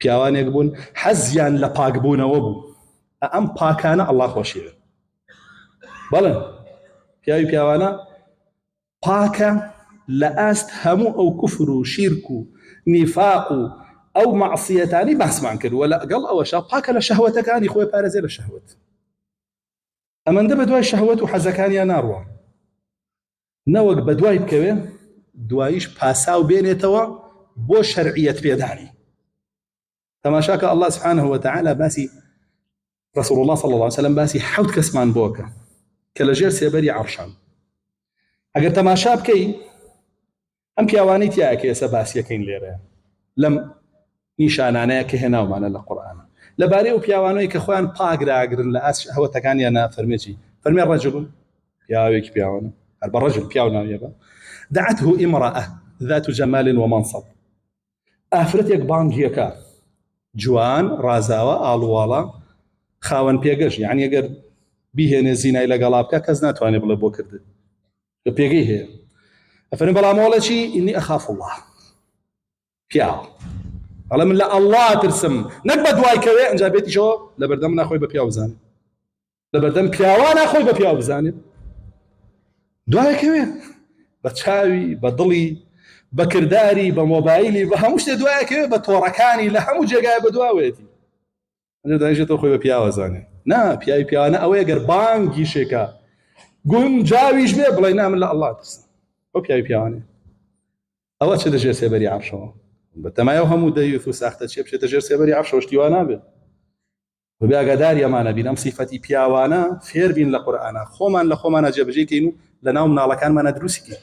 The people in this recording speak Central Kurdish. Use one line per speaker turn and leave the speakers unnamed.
پیاوانێک بوون حەزیان لە پاکبوونەوە بوو ئە ئەم پاکانە ئەڵا خۆشیێن بەڵێ پیاوی پیاوانە پاکە لە ئاست هەموو ئەو کوفر و شیرک و نیفاق و ئەو مەعسیەتانی باسمان کرد وە لەگەڵ ئەوەشە پاکە لە شەهوەتەکانی خۆی پارێزێ لە شەهوت ئەمەندە بە دوای شەهوت و حەزەکانیان ناڕوە نەوەک بەدوای بکەوێ دوایش پاساو بێنێتەوە بۆ شەرعیەت پێدانی تەماشاکە الله سبحانه وتعالى باسی رسول الله صلى الله عليه وسلم باسی حوت کەسمان بۆکە کە لە ژێر سێبەری عرشان ئەگەر تەماشا بکەی ئەم پیاوانەی تیایە کە ئێستا باسیەکەین لێرە لەم نیشانانەیە کە هێناومانە لە قورئانا لەبارەی ئەو پیاوانەی کە خۆیان پاک داگرن لە ئاست شەهوەتەکانیانا فەرمێ چی فەرمێ رەجل پیاوێکی پیاوانە هەر بە رەجل پیاو ناویە بە دعته امرأة ذات جمال ومنصب ئافرەتێک بانگیەکە جوان ڕازاوە ئاڵوواڵە خاوەن پێگەش یعنی گەر بیهێنێ زینای لەگەڵا بکە کەس ناتوانێت بڵێ بۆ کردن لە پێگەی هەیە ئەفەرم بەڵام مۆڵەچی ئینی ئەخاف الله پیاو ئەڵێ من لە ئەڵڵا ترسم نەک بە دوای کەوێ ئەجا بێتیشەوە لە بەردەم ناخۆی بە پیاو بزانێت لە بەردەم پیاوە ناخۆی بە پیاو بزانێت دوایکەوێ بە چاوی بە دڵی بە کردداری بە مۆبایلی بە هەموو شتێ دوایکەوێ بە تۆڕەکانی لە هەموو جێگای بە دواوێتی ئەجا دانیشێت تۆ خۆی بە پیاوە زانێ نا پیاوی پیاوانە ئەوەیە گەر بانگی شێکە گونجاویش بێ بڵێ نامن لە ئەڵڵا ترس ئەو پیاوی پیاوانێ ئەوە چ دەژێ سێبەری عەرشەوە بە تەمایە هەموو دەیوت و ساختە چێ بچێتە ژێر سێبەری عەرشەوە شتیوا نابێت بەبێ ئاگاداری ئەمانە بین ئەم سیفەتی پیاوانە فێر بین لە قورئانە خۆمان لە خۆمانە جێبەجێکەین و لە ناو مناڵەکانمانە دروستکەین